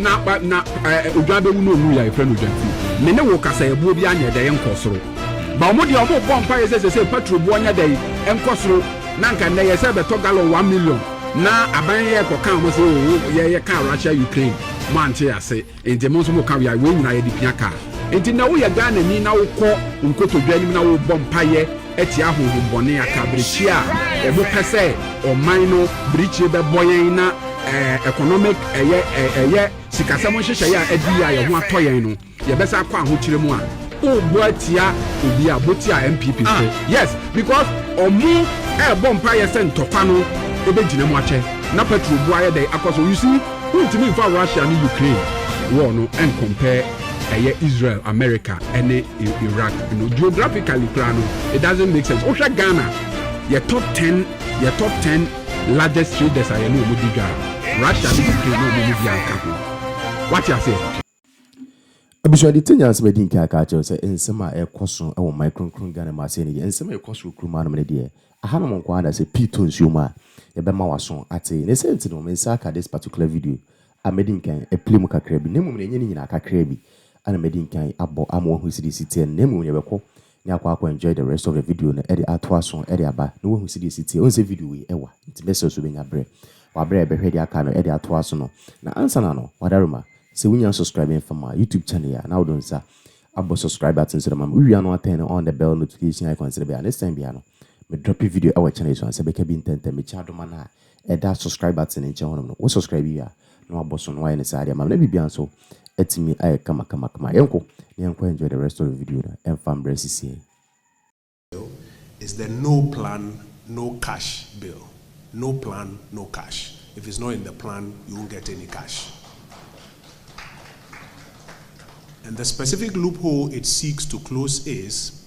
Na ba na eh, odwa bɛwu na ɔmu yɛ a yɛfrɛ no odwa ti. Me ne wo kasayɛboɔ biara nyɛ dɛ yɛnkɔ soro. Ba ɔmo deɛ ɔmo bɔ mpaeɛ sɛ sɛsɛ patro boɔ nyɛ dɛ nkɔ soro na anka nnɛ yɛ sɛ bɛtɔ gallon one million na aban yɛ kɔ ka ɔmo sɛ oo yɛ yɛ kaa Russia Ukraine mo ante ase nti mo nso mo ka wei nyinaa yɛde pia kaa nti nnɛ wo yɛ Ghanani na wo kɔ nkotodwe anim na wo bɔ mpaeɛ atia honhommɔne, akaberɛkyi a wɔn pɛ sɛ ɔman no birikyire bɛbɔ yɛn na economic ɛyɛ ɛyɛ sikasɛm nhyehyɛeɛ a adi yɛ a yɛn ho atɔ yɛn no yɛbɛsa akɔ ahokyerɛ mu a wobɔ atia obi a bɔ tia NPP so ah. yes because ɔmo ɛɛbɔ mpaeɛ sɛ ntɔkwa no ɛbɛgyina mu akyɛ na petrol bu ayɛ dɛ akɔ so you see wontumi mfa Russia ne Ukraine war no ɛnkɔmpɛ ɛyɛ Israel, America ɛne Iraq no geographically koraa no it doesn't make sense. Wohwɛ Ghana yɛ top ten yɛ top ten largest traders a yɛne wɔn di dwa Russia ne Ukraine ne wɔn mu bi anka ho. Wate aseɛ? Abusua de tenya nsɛm adi nka aka akyerɛ wo sɛ nsɛm a ɛkɔ so wɔ ɔman kronkron Ghana mu asɛe no yɛ nsɛm a ɛkɔ so wɔ kurom anom no deɛ ahanom nko ara na sɛ pii tɔ nsuo mu a yɛbɛma w'aso ate ne sɛ nti no me nsa aka this particular video a madi nkan apira mu kakra bi, na mmom nea ɛnyɛ ne nyinaa, kakra bi a na madi nkan abɔ ama wɔahu sɛdeɛ ɛsi teɛ no, na mmom yɛbɛkɔ na yɛakɔ akɔ enjoy the rest of the video no de ato aso de aba na woahu sɛdeɛ ɛsi teɛ. Wohu sɛ video wei ɛwa nti mɛsrɛ sɛ wobɛnya berɛ wɔ aberɛ a yɛbɛhwɛ deɛ aka no de ato aso no. Na ansa na no, Wadarima, sɛ wonnya nsubscribe mfa ma YouTube channel yi a, na wode wo nsa abɔ subscribe button so de ama me. Wowie a na watɛn no on the bell notification icon sɛdeɛ ɛbɛyɛ a next time biara no me drop video wɔ channel yi so a, nsa bɛka bi ntɛntɛm. Mekyia adom anaa? ɛda subscribe button no nkyɛn hɔ nom no, wo subscribe wie a na wabɔ so na wayɛ no saa de ama me na biribiara nso atumi ayɛ kama kama kama. Yɛnkɔ na yɛnkɔ enjoy the rest of the video no, ɛmfa mbrɛ esisi ɛ. Bill is the no plan no cash bill, no plan no cash, if it's not in the plan you won't get any cash and the specific loophole it seeks to close is,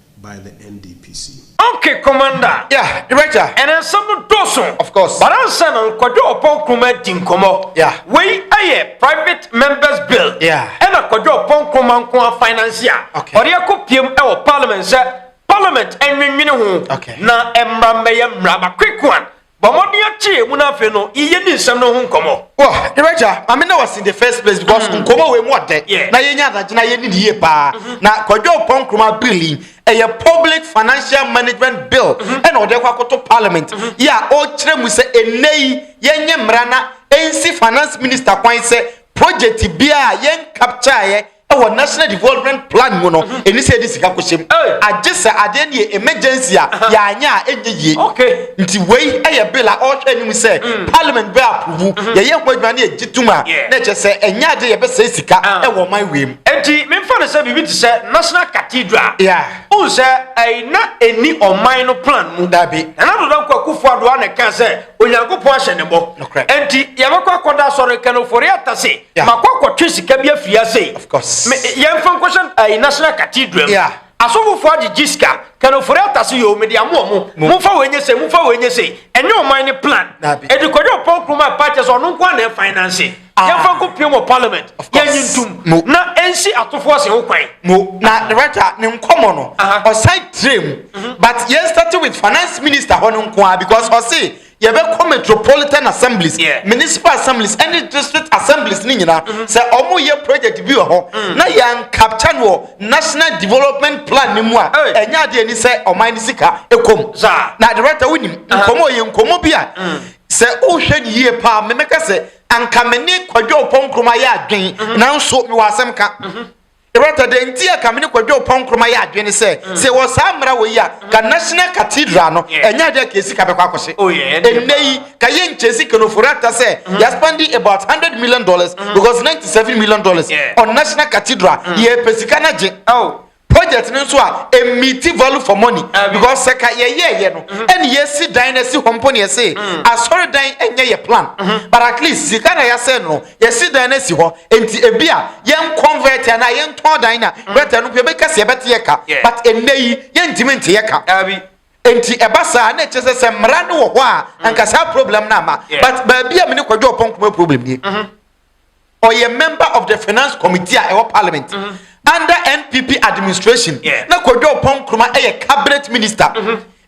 by the NDPC. Okay commander. Yeah director. Ɛnɛ nsɛm no dɔɔso. Of course. But ansa na Kwadwo Ɔpɔn Nkrumah adi nkɔmmɔ. Yeah. Wei yɛ private members bill. Yeah. Ɛna Kwadwo Ɔpɔn Nkrumah nko ara finance a. Okay. Ɔde akɔ piem wɔ parliament sɛ parliament nnwennwene ho. Okay. Na mmara mmɛyɛ mmara bakoekoan Bɔ mmɔden akyɛ emu na afei no yɛni nsɛm no ho nkɔmmɔ. Wɔ, yɛn Agya, ma me ne wo asi in the first place because mm. nkɔmmɔ wei mu ɔdɛ yeah. na yɛnya adagye na yɛni ne yie paa. Mm -hmm. Na Kwadwo Ɔpɔ Nkrumah bill yi ɛyɛ public financial management bill mm -hmm. ɛna ɔde kɔ akoto parliament mm -hmm. yɛ a ɔkyerɛ mu sɛ ɛnɛ yi yɛnyɛ mmara na ɛnsi finance minister kwan sɛ project biara yɛn capture yɛ ɛwɔ national development plan mu no ɛni sɛ ɛde sika kɔhyɛ mu agye sɛ adeɛ no yɛ emergency a yɛanyɛ a ɛnyɛ yie nti wei ɛyɛ bill a ɔrehwɛ anim sɛ mm. parliament bɛ aprovu mm-hmm. yɛyɛ ho adwuma ne yɛgye tom a na ɛkyɛ sɛ ɛnyɛ ade yɛbɛsɛe sika ah. ɛwɔ ɔman wei mu enti memfa no sɛ biribi te sɛ national cathedral wohu sɛ ɛna ɛni ɔman no plan mu dabi ɛna doda nkwakufoɔ adoa ne ka sɛ onyankopɔn ahyɛ ne bɔ enti yɛbɛkɔ akɔda asɔre kanofori atase makɔ akɔtwe sika bi afiri ase yɛmfa nkɔhyɛ eh, national cathedral yeah. asɔfofoɔ agyegye sika kanofori atase yɛ ɔmede amoɔ mo momfa wɔ ɛnyɛ se momfa wɔ ɛnyɛ se ɛnyɛ ɔman ne plan ɛde kɔdɛ ɔpɔn kuroma apakyɛ sɛ ɔno nko a na ɛfinanse ah. yɛmfa nkɔ pie wɔ parliament yɛnyi ntom na ɛnsi atofoɔ se ho kwan mo na rata ne nkɔmmɔ no ɔsan tire mu mhm. but yɛn start with finance minister hɔ no nko a because ɔse Yɛbɛkɔ Metropolitan Assemblies, yeah. Municipal Assemblies, ɛne District Assemblies ne nyinaa mm-hmm. sɛ ɔmo yɛ project bi wɔ hɔ mm. na yɛn capture no wɔ National Development Plan ne mu a ɛnyɛ adeɛ ni sɛ ɔman ne sika ɛkɔm. Na director wonim uh-huh. nkɔmɔ yɛ nkɔmɔ bi a mm. sɛ wohwɛ ne yie paa memɛka sɛ anka me ne kwadwo ɔpɔnkrom ayɛ adwen mm-hmm. nanso mewɔ asɛm ka. Mm-hmm. Bertha, Dɛn nti a ka me ne Kwadwo Oppong Nkrumah yɛ adwene sɛ sɛ yɛwɔ saa mmara wɔ yi a, ka National Cathedral no, ɛnyɛ ade a ka sika bɛkɔ akɔhyɛ. Ɛnnɛ yi, ka yɛnkyɛ sika no, Furata sɛ yɛaspɛnde about hundred million dollars because ninety seven million dollars on National Cathedral, yɛrepɛ sika no agye. Project no nso a, ɛmmiiti value for money because sɛ ka yɛyɛeɛ no, ɛne yɛasi dan no asi hɔ mpo na yɛse Asɔredan nyɛ yɛn plan but at least sika na yɛasɛn no. Yɛasi dan no asi hɔ, enti ebia yɛnconvert anaa yɛntɔn dan no a, writer no mpo yɛbɛka sɛ yɛbɛte yɛn ka, but nnɛ yi yɛntumi nte yɛn ka. Dabi. Enti ɛba saa a, na ɛkyerɛ sɛ sɛ mmara no wɔ hɔ a, anka saa problem no amma. But baabi a me ne Kwadwo Ɔpɔn Nkomo problem nie, ɔyɛ member of the finance committee a ɛwɔ parliament under NPP administration, na Kwadwo Ɔpɔn Nkrumah yɛ cabinet minister.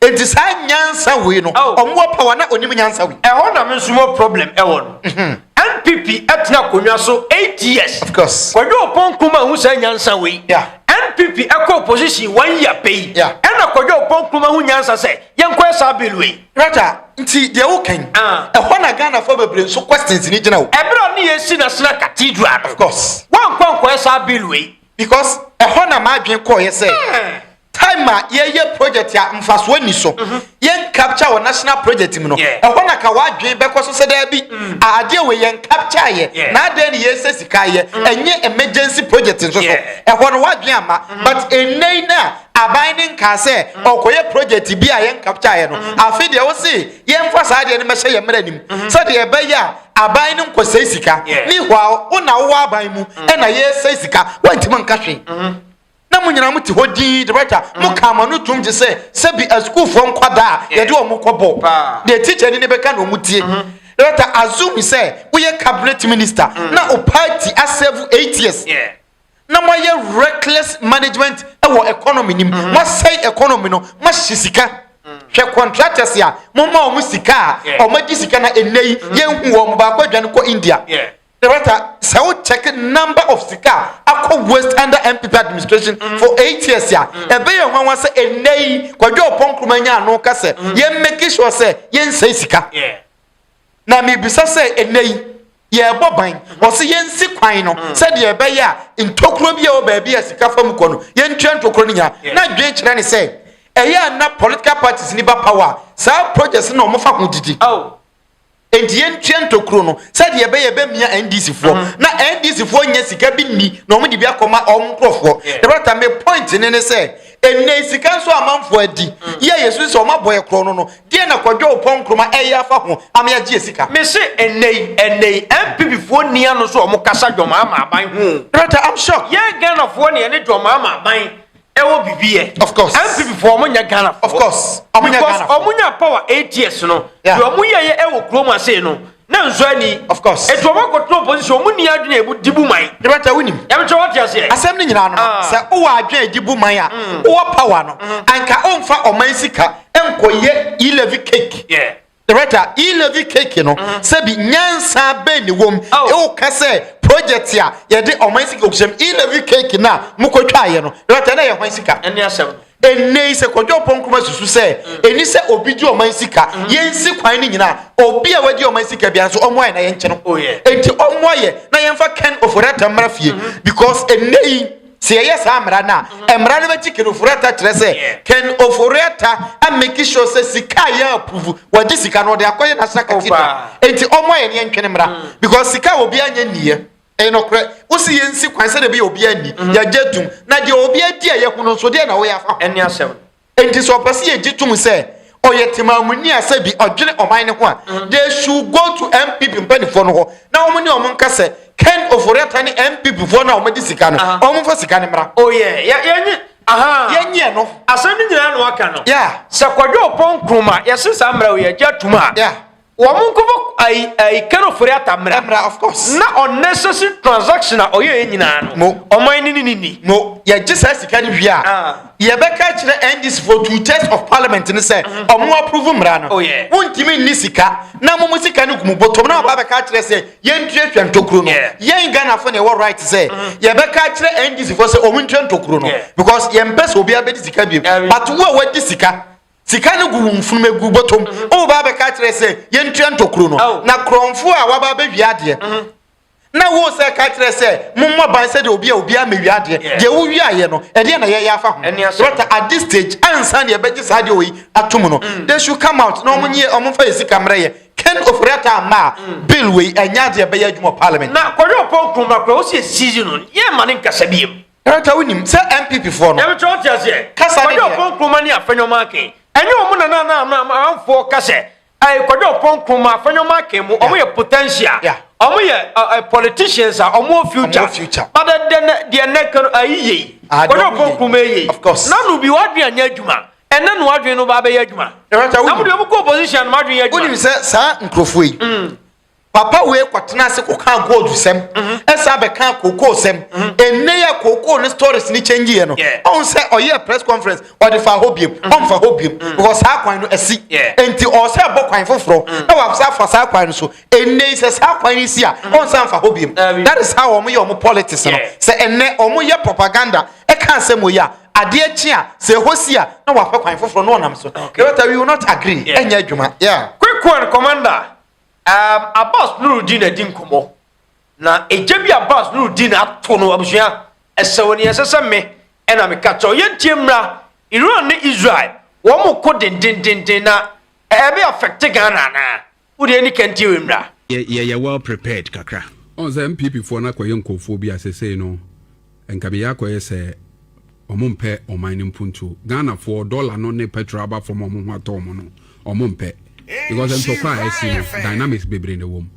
Enti saa nyansa wei no oh. ɔmo wɔ power na onim nyansa wei. Ɛhɔ na me nso mo problem ɛwɔ no. Mhm. NPP ɛtena akonnwa so eight years. Of course. Kwadwo Oponko ma ho saa nyansa wei. Yeah. NPP ɛkɔ opposition one year pɛ yi. Yeah. Ɛna Kwadwo Oponko ma ho nyansa sɛ yɛnkɔɛ saa bill wei. Rata nti deɛ wo kɛn. Ah. Ɛhɔ na Ghana fo bebree nso questions ni gyina o. Ɛbɛrɛ ne yɛ si na sena cathedral. Of course. Wɔn nkɔ nkɔɛ saa bill wei. Because ɛhɔ na maa dwen kɔɔ yɛ sɛ. Eh. Time a yɛyɛ project a mfasoɔ nni so, yɛn capture wɔ national project mu no, ɛhɔ na ka w'adwene bɛkɔ so sɛ daabi, a adeɛ wei yɛn capture yɛ, na adɛn ne yɛsɛ sika yɛ, ɛnyɛ emergency project nso so, ɛhɔ no w'adwene amma. But ɛnnɛ yi no a aban no nkaa sɛ ɔrekɔyɛ project bi a yɛn capture yɛ no, afei deɛ wose yɛmfa saa adeɛ no mmɛhyɛ yɛn mmara no mu, sɛdeɛ ɛbɛyɛ a aban no nkɔsɛe sika, meanwhile wo na wowɔ aban mu ɛna yɛresɛe sika, woantumi anka hwee. na mo nyinaa mote hɔ dinn director mm. mo ka ama no tom gye sɛ sɛbi asukuufoɔ nkwadaa a yɛde wɔn kɔbɔ deɛ tikyani ne bɛka na wɔn tie mm-hmm. director assume sɛ woyɛ cabinet minister mm. na o party asɛvu eight years na moayɛ reckless management wɔ economy nim mm-hmm. moasɛe economy no moahye sika mm. hwɛ contractors a momma wɔn sika a wɔagye sika na ɛnɛ yi yɛnhu wɔn baako adwane kɔ india Director sɛ wo check number of sika akɔ waste under MPP administration mm. for eight years a mm. ɛbɛ yɛ nwanwa sɛ ɛnɛ yi kwadwo ɔpɔ nkruma nya ano ka sɛ mm. yɛn make sure sɛ yɛn nsɛe sika na mebisa sɛ ɛnɛ yi yɛbɔ ban ɔsɛ yɛn si kwan no sɛdeɛ ɛbɛyɛ a ntokuro bi a wɔ baabi a sika fa mu kɔ no yɛn tua ntokuro no nya na dwen kyerɛ ne sɛ ɛyɛ a na political parties ni ba power saa projects na wɔn fa ho didi. Oh. Enti yɛntua ntokuro no sɛdeɛ ɛbɛyɛ ɛbɛmia NDC foɔ uh-huh. na NDC foɔ nyɛ sika bi nni na wɔn de bi akɔma wɔn nkorɔfoɔ ɛbɛrɛta me point ne ne sɛ ɛnna sika nso amanfoɔ adi mm. yɛ yɛ so sɛ wɔn abɔ yɛ korɔ no no deɛ na kɔdwa o pɔn nkroma ɛyɛ afa ho ama yɛagye sika. mese ɛnna yi ɛnna yi NPP foɔ nia no so wɔn kasa dwɔm ama aban ho. ɛbɛrɛta I'm sure. yɛn Ghana foɔ ne yɛn ne dwɔm ama aban. ɛwɔ bibi yɛ. of course npp fo ɔmo nyɛ ghana fo. of course ɔmo nyɛ ghana fo. because ɔmo nya power eight years no. yeah deɛ ɔmo yɛ yɛ ɛwɔ kurom ase no na nso ani. of course etu ɔmo akɔtena opposition ɔmo ni adwene ebu di bu man. yɛbɛ tɛ wunim. yɛbɛ tɛ wɔte aseɛ. asɛm ne nyinaa no ah. sɛ wowɔ adwene edi bu man a mm. wowɔ power no mm. anka ɔnfa ɔman sika nkɔyɛ elevi cake. yeah Director, E-levy cake no sɛ bi nyansa bɛn ne wom ewo ka sɛ project a yɛde ɔman sika okuhyɛm E-levy cake no a mo kɔ twa yɛ no Director na yɛ hwan sika? Ɛne asɛm no. Ɛnnɛ yi sɛ Kwadwo Ampɔn Nkrumah susu sɛ ɛni sɛ obi gye ɔman sika yɛnsi kwan no nyina a obi a wagye ɔman sika bia nso ɔmmoa yɛ na yɛnkye no. Ɛnti ɔmmoa yɛ na yɛmfa Ken Ofori-Atta mmra fie because ɛnnɛ yi Sɛ yɛyɛ saa mmara no a, mmara no bɛgye Ken Ofori-Atta kyerɛ sɛ Ken Ofori-Atta ameki sure sɛ sika a yɛapuvu, wɔagye sika no wɔde akɔyɛ National Cathedral. Enti ɔmmoa yɛn yɛntwene mmra mm. because sika a obiara nyɛ nniiɛ. Ɛyɛ nokorɛ. Wosi yɛnsi kwan sɛdeɛ ɛbɛyɛ obiara nni, mm-hmm. yɛagye atum. Na deɛ obiara di a yɛhu no nso, deɛ na woyɛ afa ho. Ɛne asɛm. Enti sɛ ɔpɛ sɛ yɛgye tom sɛ ɔyɛ temammuni a sɛ bi ɔdwene ɔman no ho a, mm-hmm. they should go to MPP mpanimfoɔ no hɔ na wɔn ne wɔn nka sɛ Ken Oforiatta ne MPP foɔ no a wɔde sika no uh-huh. wɔn mfa sika no mmra. Oh yeah, yeah, yeah. yɛnyɛ no asɛm no nyinaa na waka no sɛ kɔdwe ɔpɔn nkroma yɛse saa mmara wei agya tom a Wɔn nkɔbɔ ayi ayi kano fori ata mmra. Mmra of course. Na unnecessary transaction a ɔyɛ yɛ nyinaa no. No. Ɔman no ne ne ni. No yɛgye saa sika no wie a. Ah. Yɛbɛka akyerɛ NDC foɔ two thirds of parliament no sɛ ɔmo approve mmra no. Oh yeah. Wontumi nni sika na mo mo sika no gu mo bɔtɔm na waba abɛka akyerɛ sɛ yɛntua hwɛ ntokuro no. Yeah. Yɛn Ghanafoɔ na ɛwɔ right sɛ yɛbɛka akyerɛ NDC foɔ sɛ ɔmo ntua ntokuro no Yeah. because yɛmpɛ sɛ obiara bɛdi sika biom. Ɛre. But wo a wadi sika Sika no gu wo mfunumu egu bɔtɔ mu. Mm-hmm. Wo ba bɛka kyerɛ sɛ yɛntua ntokuro no. Oh. Na korɔmfo a waba abɛwia adeɛ. Mm-hmm. Na wo sɛ ka kyerɛ sɛ mommɔ ban sɛdeɛ obi a obi amɛwia adeɛ. Deɛ wowia ayɛ no, ɛdeɛ na yɛyɛ afa ho. But at this stage, ansa deɛ ɛbɛgye saa deɛ oyi ato mu no, mm. they should come out na wɔn nyɛ wɔn fa yɛ sika mmerɛ yɛ. Ken Ofori-Atta ama a mm. bill wei ɛnyɛ adeɛ ɛbɛyɛ adwuma parliament. Na kɔdwe ɔpɔ nkuruma kura, wosi esi yi no, yɛ ma ne nkasa bi yɛ mu. Tata wonim sɛ NPP foɔ no. Ɛbɛtɔ ɔte aseɛ. Kasa ne deɛ. Kwadwo ɔpɔn kuroma ne afɛnyɔma aken. Ɛnyɛ wɔn na na na amanfoɔ ka sɛ ɛɛ kwadwo ɔpɔn kuroma afɛnyɔma aken mu wɔn yɛ potential. Yeah. Wɔn yɛ ɛɛ politicians a wɔn wɔ future. Wɔn wɔ future. But ɛdɛ deɛ nɛ kan ayi yɛ yi. Ah, kwadwo ɔpɔn kuroma yɛ yi. Of course. Nanu bi wadwi anya adwuma. Ɛnɛ no wadwi no ba abɛyɛ adwuma. Ɛbɛtɔ wonim. Namu deɛ wɔn kɔ opposition no wadwi yɛ adwuma. Wonim sɛ saa nkurɔfoɔ yi. Mm. Papa wei kɔtena ase kɔkaa gold sɛm ɛsɛ abɛkaa kookoo sɛm ɛnɛ yɛ kookoo ne stories ne change yɛ no ɔhu sɛ ɔyɛ press conference ɔde fa hɔ biem ɔmfa hɔ biem because saa kwan no asi nti ɔwɔ sɛ ɛbɔ kwan foforɔ na wasa afa saa kwan no so ɛnɛ yi sɛ saa kwan no si a ɔnsa mfa hɔ biem that is how wɔn yɛ wɔn politics no sɛ ɛnɛ wɔn yɛ propaganda ɛka asɛm wɔ yi a adeɛ kye a sɛ ɛhɔ si a na wapɛ kwan foforɔ na ɔnam so ɛbɛta we will not agree ɛnyɛ adwuma yeah quick one commander Um Abbas Nurudeen adi nkɔmmɔ na egya bi Abbas Nurudeen ato no abusua ɛsɛ wɔ nea ɛsɛ sɛ me ɛna me ka kyɛw yɛn tie mmra Iran ne Israel wɔn mo ko dendendenden na ɛbɛ affect Ghana anaa wo deɛ ɛni kan tie wei mmra. Yɛyɛ well prepared kakra. Ɔn sɛ NPP foɔ no akɔyɛ nkorɔfoɔ bi a sesei no. Nka beyɛ akɔyɛ sɛ ɔmo mpɛ ɔman no mpuntuo. Ghana foɔ dollar no ne petrol aba fam a ɔmo ho atɔ ɔmo no ɔmo mpɛ. Because ntɔkwa a ɛsi no dynamics bebree na ɛwɔ mu.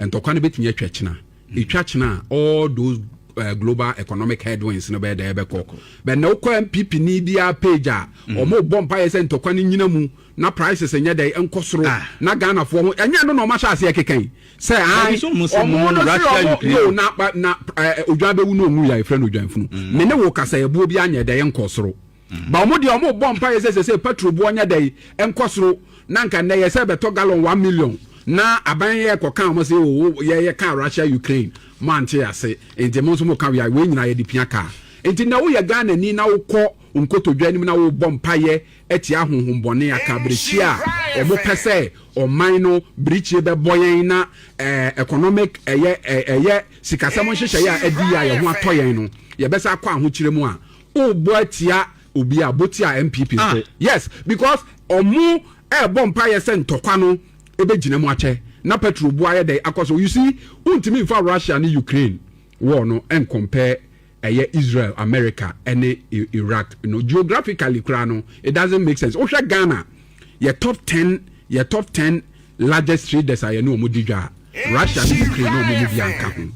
Ntɔkwa no bɛtumi atwa kyena. Ɛtwa kyena a all those eh, global economic headwinds no bɛyɛ dɛ ɛbɛkɔ. Bɛ na wokɔ NPP ni biara page a ɔmo bɔ mpaeɛ sɛ ntɔkwa no nyina mu na prices nyɛ dɛn nkɔ soro ah. na ghanafoɔ ho ɛnyɛ no na ɔma hyɛ aseɛ keka yi sɛ ae ɔmo no se ɔmo no na na eh, odwan bɛwu no ɔnwu yɛ ɛfrɛ no odwan funu mm. me ne wo kasa ɛboɔ bi anyɛ dɛn nkɔ soro mm. ba ɔmo deɛ ɔmo bɔ mpa yɛ sɛ sɛ sɛ patro boɔ nyɛ dɛn nkɔ soro na nka nnɛ yɛ sɛ bɛtɔ gallon one million na aban yɛ kɔka wɔn sɛ o yɛyɛ kaa russia ukraine mo ante ase nti mo nso mo ka wia wei nyinaa yɛde pia kaa nti na woyɛ ghana ni na wokɔ nkotodwa anim na wobɔ mpayɛ atia honhom bɔne a kaberɛhyia a wɔpɛ sɛ ɔman no birikyie bɛbɔ yɛn na eh, economic ɛyɛ eh, ɛyɛ sikasɛm nhyehyɛeɛ a adi yɛ a yɛn ho atɔ yɛn no yɛbɛsa akɔ ahokyerɛ mu a wobɔ atia obi a bɔ tia npp ah. nso yes because ɔmo ɛrebɔ mpaeɛ sɛ ntɔkwa no ɛbɛgyina mu akyɛ na petro bu ayɛ dɛ akɔ so you see wontumi mfa russia ne ukraine war no nkɔmpɛ ɛyɛ Israel, America ɛne Iraq no geographically koraa no it doesn't make sense. Wohwɛ Ghana yɛ top ten yɛ top ten largest traders a yɛne wɔn di dwa Russia ne Ukraine na wɔn mu bi anka ho.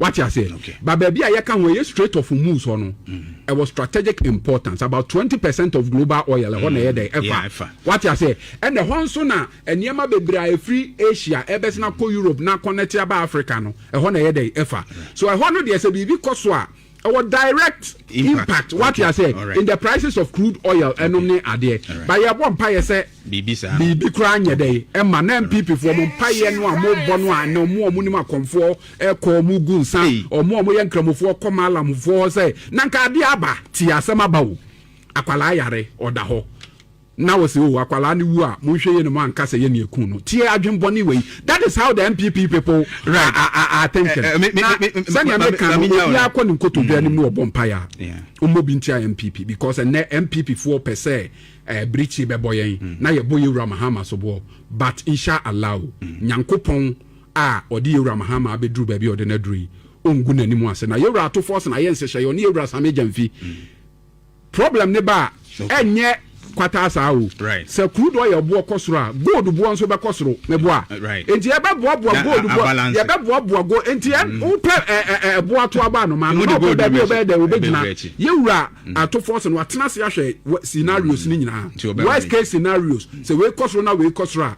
Wate aseɛ? Okay. Ba baabi a yɛka ho ɛyɛ Strait of Hormuz hɔ no mm-hmm. ɛwɔ strategic importance about twenty percent of global oil ɛhɔ na ɛyɛ dɛ ɛfa. Wate aseɛ? Ɛna ɛhɔ nso na Nneɛma bebree a ɛfiri Asia ɛbɛsen akɔ Europe na akɔnɛte aba Africa no, ɛhɔ na ɛyɛ dɛn? Ɛfa. So ɛhɔ no deɛ sɛ biribi kɔ so a, ɛwɔ direct impact, wate aseɛ, in the prices of crude oil ɛnom ne adeɛ. But yɛbɔ mpaeɛ sɛ biribi koraa nyɛ dɛn ɛma na NPP foɔ mo mpaeɛ no a mobɔ no a ɛnɛ ɔmo a ɔmo nim akɔmfoɔ ɛkɔ ɔmo gu nsa, ɔmo a ɔmo yɛ nkramofoɔ kɔ maalamfoɔ hɔ sɛ na nka adeɛ aba, tie asɛm aba o, akwadaa yare ɔda hɔ. na ɔse oh akwadaa no wu a monhwɛ yie na moanka sɛ yɛne ɛkuu no, tie adwen bɔne wei, that is how the NPP people are thinking, na sɛnea meka no obiara kɔ ne nkotodwe anim na ɔbɔ mpaeɛ a ɔmmɔ bi ntia NPP because ɛnɛ NPP foɔ pɛ sɛ eh, birikyi bɛbɔ yɛn mm. na yɛbɔ yɛwura Mahama soboɔ but insha Allah mm. Nyankopɔn a ɔde yɛwura Mahama abɛduru baabi a ɔde no aduru yi ɔngu n'anim ase na yɛwura ato fɔs na yɛ nhyehyɛeɛ ɔne yɛwura Same Gyamfi mm. Problem ne ba a, ɛnyɛ kwataa saa o. Sɛ kuru dɔ yɛ boɔ kɔ soro a, gold boɔ nso bɛkɔ soro ne boa. Nti yɛbɛboaboa gold boɔ, yɛbɛboaboa gold. Nti yɛ mm. wopɛ ɛboa to aba anoma no, na ɔpɛ baabi ɔbɛyɛ dɛ ɔbɛgyina. Yɛwura mm. atofoɔ sɛ no watena ase ahwɛ scenarios mm. ne nyinaa. Worst case scenarios, sɛ wei kɔ soro na wei kɔ soro a,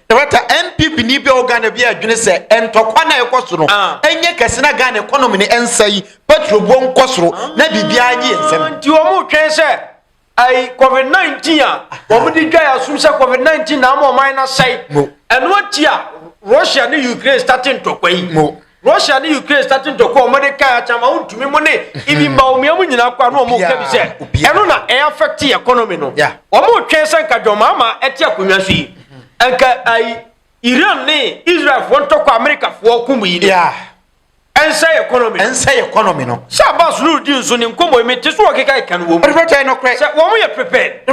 Director, NPP ni bi a ɔwɔ Ghana bi adwene sɛ ntɔkwa no a ɛkɔ so no nyɛ kɛse na Ghana economy no nsɛe, petrol buo nkɔ soro na biribiara nye yɛn nsam. Nti wɔretwɛn sɛ ɛyi covid 19 a wɔde dwa yɛn asom sɛ covid 19 na ama ɔman no asɛe, ɛno akyi a Russia ne Ukraine starte ntɔkwa yi. Russia ne Ukraine starting to call mode kan acha ma wontumi mo ne ibi mba omia mo nyina kwa no ɔmo ka bi sɛ ɛno na ɛyɛ affect economy no ɔmo twɛn sɛ nka John Mahama ɛte akonnwa so yi nka ayi Iran ne Israel foɔ ntɔkɔ America foɔ kum yi no ɛnsɛ economy ɛnsɛ economy no sɛ Abbas Nurudin nso ne nkɔmmɔ yi mete so ɔkeka ɛka no wɔ mu sɛ wɔn yɛ prepared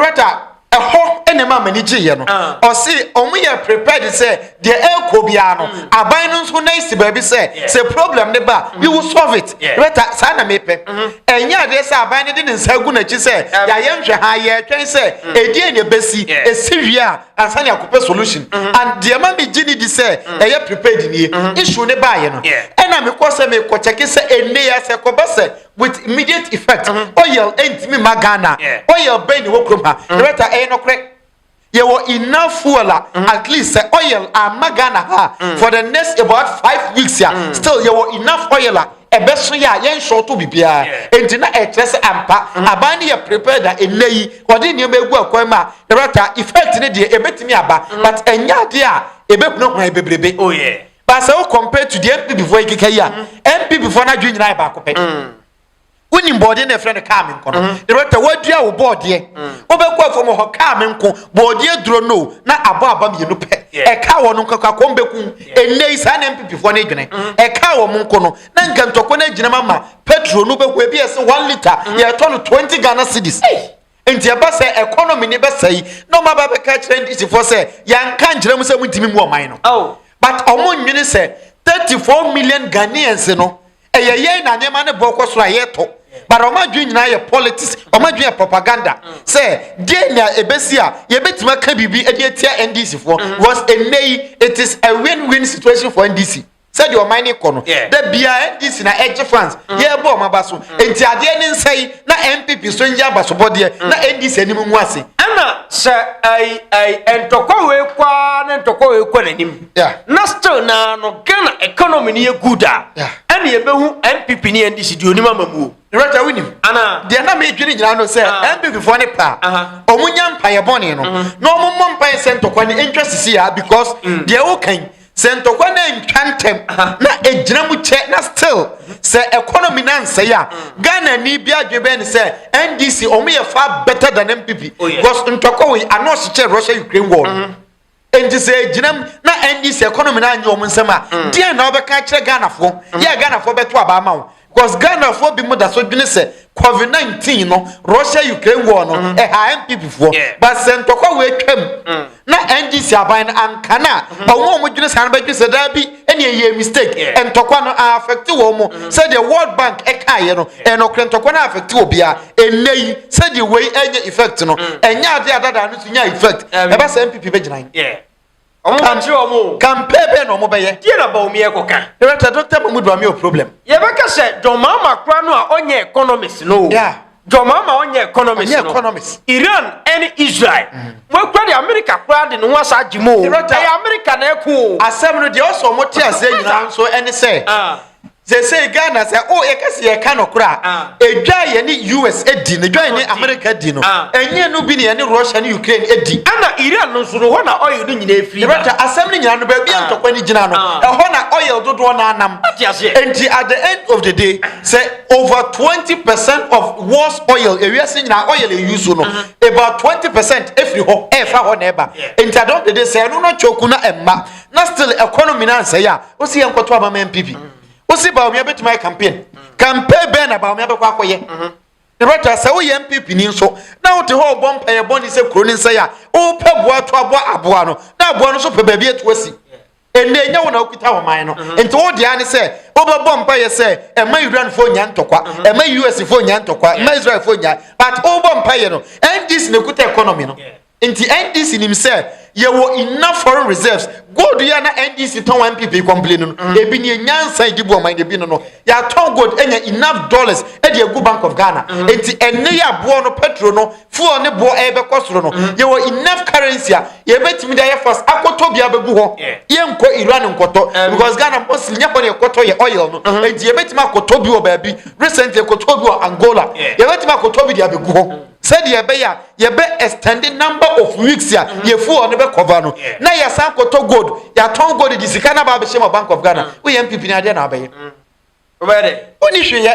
ɛhɔ na ɛma m'ani gyeeɛ no ah. ɔse ɔmo yɛ prepared sɛ deɛ ɛrekɔ biara no mm. aban no nso na esi baabi sɛ sɛ problem ne ba you will solve it bɛta saa na mepɛ mm-hmm. ɛnyɛ adeɛ sɛ aban no de ne nsa gu n'akyi sɛ yɛayɛ nhwɛ ha yɛretwɛn sɛ mm. ɛdeɛ na ɛbɛsi ɛsi wie a ansa ne akɔpɛ solution mm-hmm. and deɛ ma megye ne di sɛ mm. ɛyɛ prepared nie mm-hmm. issue ne baeɛ no ɛna mekɔ sɛ mekɔ kyɛke sɛ ɛnne yɛ sɛ kɔba sɛ with immediate effect mm-hmm. oil ɛntumi eh, ma ghana yeah. oil bɛn ne wɔ kurom ha mm-hmm. yɛbɛta ɛyɛ eh, nɔkorɛ yɛwɔ enough fuel a mm-hmm. at least sɛ oil ama ghana ha mm. for the next about five weeks a mm. still yɛwɔ enough oil a ɛbɛso yɛ a yɛnhyɛ ɔto biribiara enti na ɛkyerɛ sɛ ampa aban no yɛ prepared a ɛnɛ yi ɔde nneɛma egu akwan mu a yɛbɛta effect ne deɛ ɛbɛtumi aba but ɛnyɛ adeɛ a ɛbɛhunahuna bebrebe. Oh, yeah. But sɛ wo compare to the NPP foɔ ekeka yi a, NPP mm. foɔ no adwene nyinaa yɛ baako pɛ. Mm. Wonim bɔɔdeɛ na ɛfrɛ no kaa me nko no. Mm. The rota wadua wo bɔɔdeɛ. Wobɛkɔ afɔ mu hɔ kaa me nko bɔɔdeɛ duro no na abɔ aba mmienu pɛ. Ɛka wɔn nko kakɔ wɔn bɛkum. Ɛnɛ yi saa na NPP foɔ no adwene. Ɛka wɔn nko no na nka ntɔkwa no agyina ma ma petrol no bɛhu ebi ɛsɛ one litre yɛtɔ no twenty Ghana cedis. Enti ɛba sɛ economy ne bɛsɛe na ɔma ba bɛka kyerɛ ndisifoɔ sɛ yɛanka nkyerɛ mu sɛ mu ntimi mu ɔman no. Oh. But ɔmo nwene sɛ 34 million Ghanaians no ɛyɛ yɛn na nneɛma no bɔ kɔ soro a yɛtɔ. But ɔmo adwene nyinaa yɛ politics, ɔmo adwene yɛ propaganda mm. sɛ deɛ na ebesi a yɛbɛtumi aka biribi ɛde atia NDC foɔ mm. because ɛnɛ yi it is a win-win situation for NDC. Sɛdeɛ ɔman no rekɔ no, da biara NDC na ɛgye fans, yɛrebɔ wɔn aba so. Enti adeɛ no nsa yi na NPP nso nyɛ abasobɔdeɛ na NDC anim ngu ase. Ɛna sɛ ai ai ntɔkwa wei kɔ ara na ntɔkwa wei kɔ n'anim yeah. na still naa no Ghana economy no yɛ good a yeah. ɛna yɛbɛhu NPP ne NDC deɛ onim ama mu o. Rɔta wonim ana deɛ na medwene nyinaa no sɛ ah. NPP foɔ ne pa ɔmo nya mpaeɛ bɔne no mm-hmm. na ɔmo mmɔ mpaeɛ sɛ ntɔkwa ne ntwa sisi a because mm. deɛ wokan Sɛ ntɔkwa na ntwa ntɛm na egyina mu kyɛ na still sɛ economy na nsɛe a mm. Ghana ni bi adwene bɛn ne sɛ NDC wɔn yɛ far better than MPP oh, because ntɔkwa wɔ yi ano ɔhyekyɛ Russia Ukraine war mm-hmm. nti sɛ egyina mu na NDC economy na anyi wɔn nsɛm a mm. deɛ na ɔbɛka akyerɛ Ghanafoɔ mm. yɛ Ghanafoɔ bɛto aba ama wɔn. Cos Ghanafoɔ binom da so dwene sɛ covid 19 no Russia Ukraine war no mm-hmm. ɛha NPP foɔ but sɛ ntɔkwa wei atwam mm. na NDC aban no anka no a mm-hmm. ɔmo a ɔmo dwene saa no bɛdwene sɛ daa bi ɛne ɛyɛ mistake ntɔkwa no affect wɔn mo mm-hmm. sɛdeɛ World Bank ɛkaeɛ no ɛnɔkorɛ ntɔkwa no affect wɔ bia ɛnɛ yi sɛdeɛ wei ɛnyɛ effect no mm. ɛnyɛ adeɛ adadaa no so nya effect ɛbɛ sɛ NPP bɛgyina yi. Ɔmo ma kyerɛ ɔmo o. Kampee bɛn na ɔmo bɛyɛ? Deɛ na Bawumia ɛkɔka? Director, Doctor Mahmood Bawumia wɔ problem. Yɛbɛka sɛ John Mahama koraa no a ɔnyɛ economist no o. Yeah. John Mahama ɔnyɛ economist no. Ɔnyɛ economist. Iran ɛne Israel. Mo akura deɛ America koraa de ne ho asa agye mo o. Director. Ɛyɛ America na ɛko o. Asɛm no deɛ ɔsɛ ɔmo te aseɛ nyinaa nso ɛne sɛ. Ah. Seesei Ghana sɛ o yɛka sɛ yɛka nokorɛ a, edwa a yɛne US di no, edwa a yɛne Amerika di no, ɛnyɛ ɛno bi na yɛne Russia ne Ukraine di. Ɛna Iran no nso no, hɔ na oil no nyinaa firi ba. Director, asɛm no nyinaa no, baabi a ntɔkwa no gyina no, ɛhɔ na oil dodoɔ no ara nam. Wate aseɛ? Enti at the end of the day, sɛ over 20 percent of world's oil, ewiase nyinaa oil a yɛuse no, about 20 percent firi hɔ ɛrefa hɔ na ɛba. Enti at the end of the day, sɛ ɛno na choke na ɛmma. na still ɛkɔ no mina nsɛe a wosi yɛ nkɔto aba ma npp wosi baomia bɛtumi ayɛ campaign campaign bɛn na baomia bɛkɔ akɔyɛ ɛbɛta sɛ woyɛ npp ni nso na wote hɔ ɔbɔ mpaeɛ bɔ ne sɛ kuro ne nsɛe a wopɛ boa to aboa aboa no na aboa no nso pɛ baabi atu asi ɛnna ɛnyɛ wo na wokita wɔ man no mhm. nti wo deɛ ne sɛ wobɛbɔ mpaeɛ sɛ ɛma iranfoɔ nya ntɔkwa mhm. ɛma usfoɔ nya ntɔkwa ɛma israelfoɔ nya but wobɔ mpaeɛ no ndc na ɛkuta economy no Nti NDC nim sɛ yɛwɔ enough foreign reserves. Gold yɛ na NDC tɔn wɔ NPP kɔmpile no no. Mm. Ebi ni nyansa edi bu ɔman ebi no no. Yɛatɔn gold anya enough dollars ɛde agu Bank of Ghana. Mm. Nti ɛnne yɛ aboɔ no petro no fuel ne boɔ ɛbɛkɔ soro no. Mm. Yɛwɔ enough currency a yɛbɛtumi de ayɛ fast akɔtɔ bi abɛgu hɔ. Yeah. Yɛnkɔ Iran nkɔtɔ um. because Ghana Muslim nyɛ hɔ ne yɛkɔtɔ yɛ oil no. Mm-hmm. Nti yɛbɛtumi akɔtɔ bi wɔ baabi. Recently yɛkɔtɔ bi wɔ Angola. Yeah. Yɛbɛtumi akɔtɔ bi de abɛgu hɔ. Mm. sɛdeɛ ɛbɛyɛ a yɛbɛ extend the number of weeks a mm-hmm. yɛfu hɔ no bɛkɔva no na yɛsan kɔtɔ gold yɛatɔn gold de sika no aba abɛhyɛ ma bank of ghana mm. woyɛ mpp no adeɛ na abɛyɛ mm. woni hweyɛ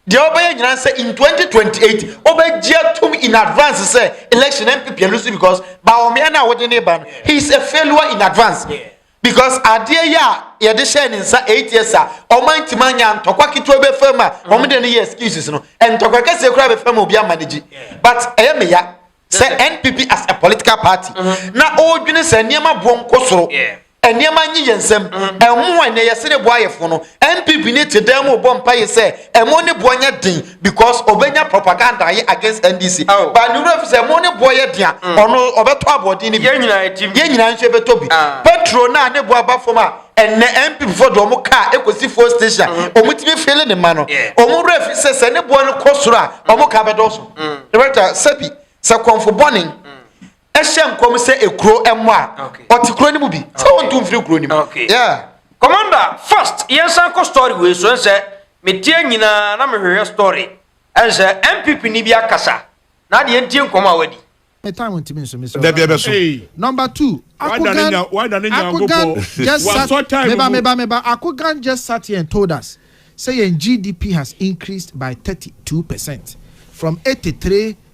deɛ wobɛyɛ nyina sɛ in 2028 wobɛgye atom in advance sɛ election mpp ɛlu so because baɔmeɛ no a wode ne ba no he is a failure in advance yeah. because adeɛ yi a yɛde hyɛɛ ne nsa eight years a ɔma ntoma anya ntɔkwa ketewa bɛfa mu a wɔn de no yɛ excuses no ntɔkwa kɛseɛ koraa bɛfa mu obi ama no gye but ɛyɛ me ya sɛ npp as a political party mm-hmm. na ɔredwene sɛ nneɛma boɔ nkɔ soro nneɛma nye yɛn nsam mm-hmm. ɛmo a ɛnɛ yɛse ne boayɛfo no npp ne te dan mu bɔ mpa yɛ sɛ ɛmo ne boɔ nyɛ den because ɔbɛnya propaganda ayɛ against NDC oh. but ne wura fi sɛ mo ne boɔ yɛ dea mm. ɔno ɔbɛtɔ aboɔden no bi yɛn nyinaa nso ɛbɛtɔ bi ah. petro no a ne boɔ aba fam a ɛnɛ mpp foɔ de ɔmo kaa ekosi fuel station mm-hmm. ɔmo tumi fele ne ma no ɔmo wura fi sɛ sɛ ne boɔ no kɔ soro a ɔmo kaa bɛdɔɔso ɛbɛta sɛbi sɛ kɔnfo bɔne hyɛ nkɔm sɛ ekuro mmɔ a ɔte kuro no mu bi sɛ wɔntu mfiri kuro no mu kɔmanda first yɛnsan kɔ story wei so ɛnsɛ metie nyinaa na mehwehwɛ story ɛnsɛ mpp ni bi akasa na adeɛ ntie nkɔm a wadi dabi ɛbɛso number two akogan akogan just sat meba meba meba akogan just sat here and told us say yɛn gdp has increased by 32 percent from 83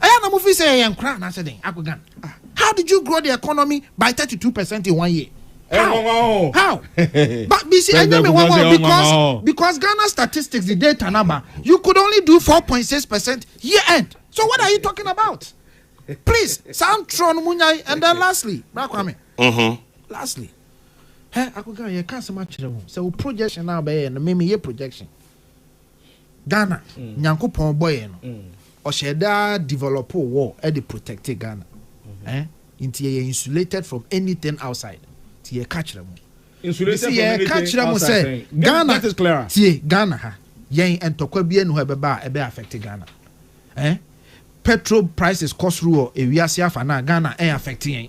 Ɛyɛ a na mo feel sɛ yɛyɛ nkora anaasɛ dɛn? Akogan, how did you grow the economy by thirty two percent in one year? How? How? But you see, ɛnyɛ me nwanwa because because Ghana statistics the data naba, you could only do four point six percent year end. So what are you talking about? Please, saa ntorɔ no mo nyae and then lastly, Bra Kwame. Mm-hmm. Lastly, hɛ Akogan yɛ ka asɛm akyerɛ wo sɛ wo projection na wobɛyɛ no, me meyɛ projection. Ghana Nyankopɔn bɔ yɛn no ɔhyɛ da develop wall ɛde protect Ghana eh nti yɛ yɛ insulated from anything outside ti yɛ ka kyerɛ mo insulated from anything outside yɛ ka kyerɛ mo sɛ Ghana tie Ghana ha yɛn ntɔkwa bi ɛnu hɔ ɛbɛba a ɛbɛ affect Ghana eh petrol prices kɔ soro wɔ ewiase afa na Ghana ɛn affect yɛn.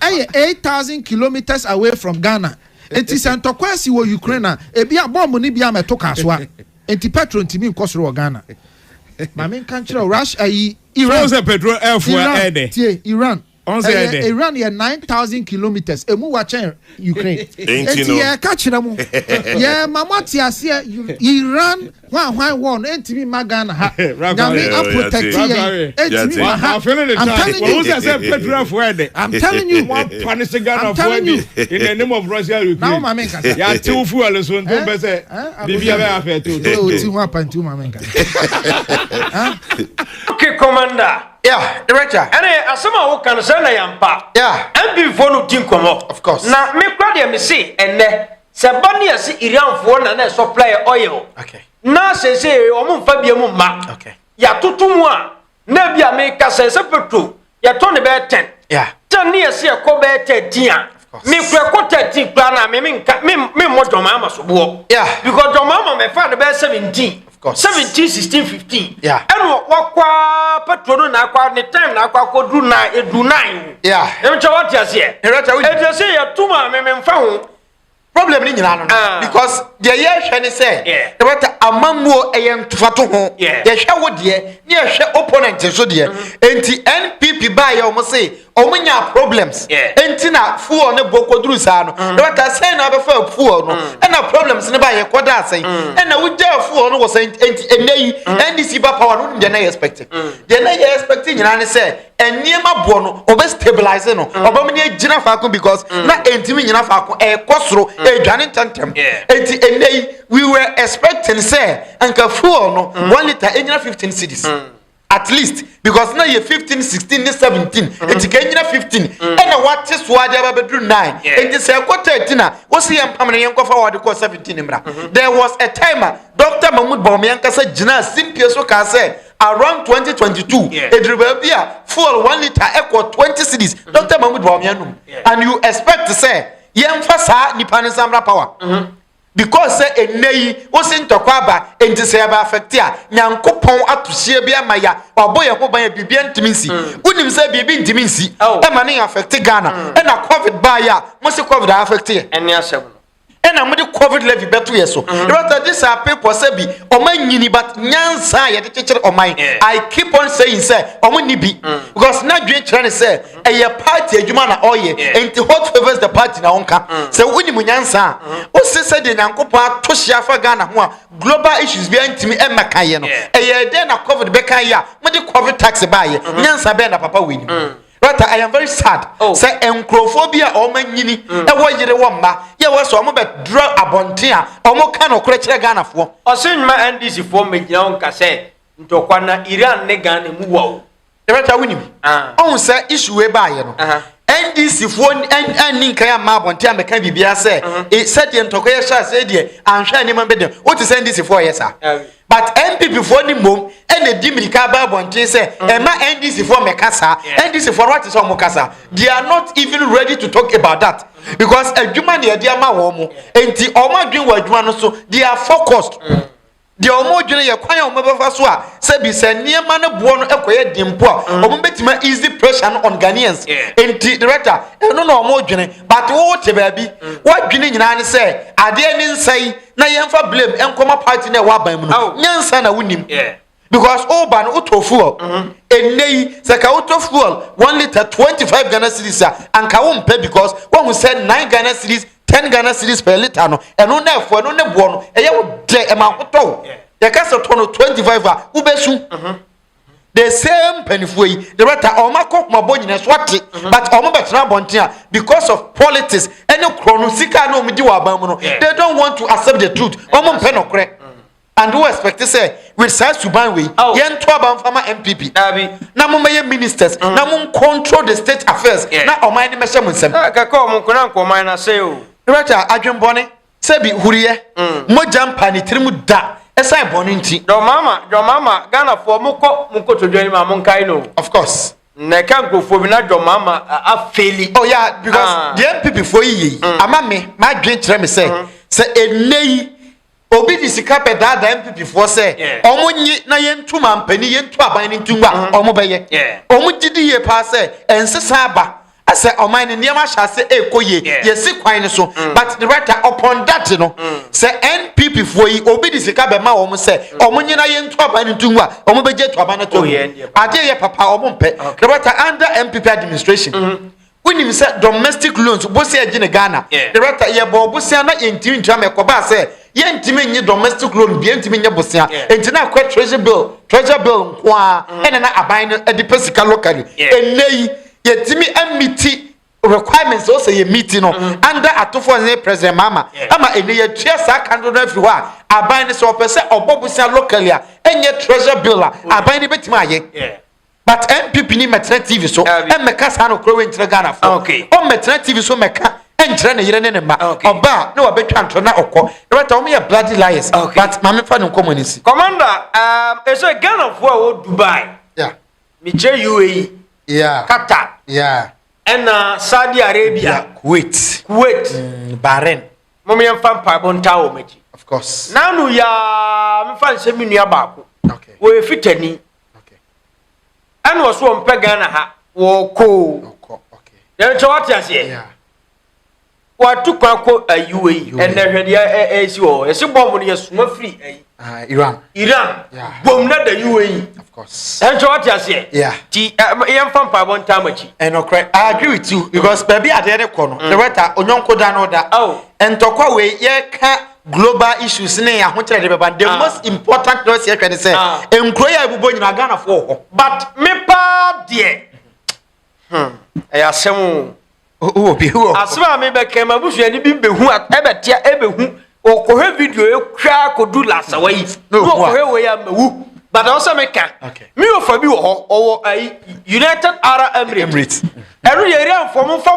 Ɛyɛ eight thousand kilometres away from Ghana nti sɛ ntɔkwa si wɔ Ukraine a, ebia bɔmb no bi amɛto kasoa nti pɛtro ntumi nkɔ soro wɔ Ghana. Ma menka nkyerɛ wo, Russia ayi Iran. Sɛ sɛ pɛtro ɛfo a ɛdɛ. Tie Iran. Ɛyɛ Iran yɛ nine thousand kilometres emu wa kyɛn Ukraine. Nti yɛka kyerɛ mo, yɛma mo ate aseɛ Iran Hwan hwan wɔɔ no ɛntimi mma Ghana ha Nyame a protect yɛn ɛntimi mma ha I'm telling you I'm telling you I'm telling you in the name of Russia Ukraine na wo ma me nkasa yɛ ate wo fuel nso nti wo bɛ sɛ bibi a bɛ yɛ afɛ te o ti ho apa nti wo ma me nkasa okay commander yeah director ɛnɛ asɛm a woka no sɛ na yɛmpa yeah mpimfoɔ no di nkɔmmɔ of course na mekora deɛ mese ɛnɛ Sɛ ɛba ne yɛse Iranfoɔ na na ɛsɔpla yɛ oil na seesei wɔn mfa bia mu mma yɛatoto mu a na bi a meka sɛ sɛ petro yɛtɔ ne bɛyɛ 10 10 ne yɛse ɛkɔ bɛyɛ 13 a mekura ɛkɔ 13 koraa na me memmɔ dwɔmaa ma soboɔ because dwɔmaa ma mɛfa no bɛyɛ 17 seventeen sixteen fifteen ɛna wakɔ petro no na akɔ ne time na akɔ akɔ duru nine edu nine o ɛmu kyɛ wate aseɛ ɛdi ɛsɛ yɛ tum a mɛmɛ nfa ho. problem ni nyinaa no ah. because deɛ yɛhwɛ ne sɛ ɛbɛta amammuo ɛyɛ ntofato ho yɛhwɛ wo deɛ ne yɛhwɛ opponent nso deɛ mm-hmm. enti npp baayɛ wɔn se wɔn nya problems nti na fuel ne bɔ kɔduru saa no mm. ɛbɛta sɛn na abɛfa fuel no mm. ɛna problems ne ba yɛ kɔda asɛn mm. ɛna wogya fuel no wɔ sɛn nti ɛnɛ yi ndc ba power no deɛ na yɛ expect deɛ na yɛ expect nyinaa ne sɛ nneɛma boɔ no ɔbɛ stabilize no ɔbɛ mu ne gyina faako because na ntumi nyina faako ɛkɔ soro ɛdwane ntɛntɛm nti ɛnɛ yi we were expecting sɛ nka fuel no one litre ɛnyina fifteen cities. Mm. at least because na yɛ fifteen sixteen ne seventeen mm-hmm. eti ka nyina fifteen mm-hmm. ɛna wate so adi aba bɛduru nine eti sɛ ɛkɔ thirteen a wosi yɛn mpam na yɛn kɔfa wɔde kɔ seventeen mmra mm-hmm. there was a time a doctor mahmood bɔnmi ankasa gyina simpie so kaa sɛ around twenty twenty two eduru baabi a fuel one litre ɛkɔ twenty cities doctor mahmood bɔnmi anum and you expect sɛ yɛn fa saa nipa ne nsamra power. Mm -hmm. Because sɛ ɛnnɛ yi wo se ntɔkwa aba nti sɛ yɛba affect a Nyankopɔn ato hyeɛ bi ama ya wabɔ yɛn ho ban a biribia ntimi nsi mm. wonim sɛ biribi ntimi nsi oh. ɛma ne yɛ affect Ghana mm. ɛna covid baa yɛ a mo se covid a affect yɛ ɛne asɛm no ɛna mode covid levy bɛto yɛ so mm-hmm. ɛbɛta this are people sɛ bi ɔma nyini but nyansa a yɛde kyekyere ɔman i keep on saying sɛ ɔmo ni bi mm. because na dwen kyerɛ ne sɛ ɛyɛ party adwuma na ɔyɛ nti hot favors the party na ɔnka mm. sɛ wonim nyansa a mm-hmm. wose sɛdeɛ nyankopɔn ato hye afa ghana ho a global issues biara ntumi mmɛka yɛ no ɛyɛ dɛn na covid bɛka yɛ a mode covid tax baayɛ mm-hmm. nyansa bɛɛ na papa wɔanim mm. Rata, I am very sad. Oh. Sɛ nkurɔfoɔ bi a wɔn nyini mm. ɛwɔ yere wɔ mma yɛ wɔ sɛ wɔn bɛ dura abɔnten a wɔn ka no korɛ kyerɛ Ghanafoɔ. Ɔsɛn ma NDC foɔ mmegyina wɔn ka sɛ ntɔkwa na Iran ne Ghana mu wɔ o. yɛbɛtwa wo nim ah. ɔhu sɛ issue wei baayɛ no ndc foɔ ɛnni nkan ama abɔnten amɛka biribiara sɛ e, sɛdeɛ ntɔkwa yɛ hyɛ aseɛ deɛ anhwɛ anim bɛ deɛ wote sɛ ndc foɔ yɛ saa but npp foɔ ni mmom ɛna di mirika aba abɔnten sɛ ɛma ndc foɔ mɛka saa ndc foɔ no wate sɛ ɔmo kasa they are not even ready to talk about that because adwuma na yɛde ama wɔn mo nti ɔmo adwene wɔ adwuma no so they are focused. Mm. Deɛ wɔdwene yɛ kwan a wɔbɛfa so a sɛbi sɛ nneɛma no boɔ no kɔyɛ den mpo a, mm. wɔbɛtumi a easy pressure no on Ghanaians. Nti director, ɛno na wɔdwene. But wo te baabi, mm. wɔadwene nyinaa ne sɛ adeɛ ne nsa yi na yɛmfa blame nkɔma party na ɛwɔ aban mu no. Oh. Nyansa na wonim. Yeah. because woba no wotɔ fuel mhm. ɛnnɛ yi sɛ ka wotɔ fuel one litre 25 ghana series a anka wompɛ because woahu sɛ 9 ghana series ten ghana series per litre no ɛno na ɛfo ɛno ne boɔ no ɛyɛ wo dɛ ɛma ahotɔ wo yɛka sɛ tɔ no twenty five a wobɛsu mhm. the same mpanimfoɔ yi the rata ɔmo akɔ kumabɔ nyina so ate mhm. but ɔmo bɛtena abɔnten a because of politics ɛne korɔ no sika na ɔmo di wɔ aban mu no they don't want to accept the truth ɔmo mpɛ nɔkorɛ. And wo expect sɛ with saa suban wei oh. yɛnto aba mfa ma mpp na mommɛyɛ ministers mm. na mo control the state affairs yeah. na ɔman no mɛhyɛ mo nsɛm ah, kɛkɛ ɔmo nkona nkɔman no asɛe o director adwenbɔne sɛ bi huriyɛ mm. mogya mpa ne tirim da ɛsan bɔne nti dɔmama dɔmama ghanafoɔ mokɔ mokɔtodwani ma monkae no of course na ɛka nkurɔfoɔ bi na dɔmama afeli oh yeah because ah. deɛ mpp foɔ yi yei mm. ama me madwen kyerɛ me sɛ mm-hmm. sɛ ɛnnɛ yi Obi de sika bɛ daadaa MPP foɔ sɛ ɔmo nye na yɛn ntu mampanin yɛn ntu aban no ntu ngu a mm-hmm. ɔmo bɛ yɛ. Ɔmo gye di yie paa sɛ ɛnsesa aba sɛ ɔman no nneɛma ahyɛ ase ɛkɔ yie yɛsi kwan no so mm. but the writer upon that no mm. sɛ npp foɔ yi obi de sika bɛma wɔn sɛ mm. wɔn nyina yɛ ntu aban no ntungu a wɔn bɛgye to aban no to oh, adeɛ yɛ papa wɔn mpɛ the writer under npp administration. Mm -hmm. Wonim sɛ domestic loans bosea agyi ne Ghana. Director, yɛbɔɔ bosea na yɛntumi ntua ma ɛkɔbaa sɛ yɛntumi nye domestic loan bia ntumi nyɛ bosea nti na akɔ treasury bill, treasure bill nko ara ɛna na aban no de pɛ sika locally. Ɛnnɛ yi yɛtumi a meeti requirements a ɔsɛ yɛ meeti no under Atufoɔ Hene President Mahama ɛma ɛnnɛ yɛatua saa ka dodoɔ no afiri hɔ a aban no sɛ ɔpɛ sɛ ɔbɔ bosea locally a ɛnyɛ treasure bill a aban no bɛtumi ayɛ. but npp ni mɛtena tv so mmɛka saa no korɔ wei nkyerɛ ghana fo ɔ mɛtena tv so mɛka nkyerɛ ne yere ne ne mma ɔba a ne wabɛtwa ntorɔ na ɔkɔ ɛbɛta wɔn yɛ bloody liars but maame fa ne nkɔmɔ ne si. commander um, ɛsɛ ghana fo a wɔ dubai mekyerɛ uae yeah. qatar yeah. ɛna saudi arabia yeah. kuwait kuwait mm, bahrain mom yɛmfa mpaebɔ ntaa wɔ m'akyi of course nanu yaa mefa nsɛm me nua baako okay. wɔyɛ fitani ɛna ɔso ɔmpɛ ghana ha wɔkɔɔ yɛnkyɛ wate aseɛ watu kwan kɔ ayi wɔ yi ɛnɛ hwɛ deɛ ɛsi wɔ hɔ ɛsi bɔmbo no yɛsoma firi ayi ah, iran iran bom na da yi wɔ yi ɛnkyɛ wate aseɛ ti yɛmfa mpaebɔ ntaa makyi ɛnɔkorɛ i agree with you because baabi adeɛ de kɔ no mm. the wɛta onyɔnko da no da ntɔkwa wei yɛka global issues ne ahokyerɛ de bɛba the ah. most important na ɔsi ɛhwɛ ne sɛ ah. nkuro yɛ ebubɔ nyinaa ghana fo wɔ hɔ. but me paa deɛ hmm, ɛyɛ asɛm o. wɔ bi wɔ. asɛm a mi bɛ kɛ ma busuani bi bɛ hu ɛbɛ tia ɛbɛ hu ɔkɔhɛ video ekura kodu lasawa yi na ɔkɔhɛ wɔ yi a mɛ wu bàtà ɔsɛ mi ka mi yóò fa bi wɔ hɔ ɔwɔ ayi united arab emirates ɛnu yɛ area nfɔmu nfɔmu.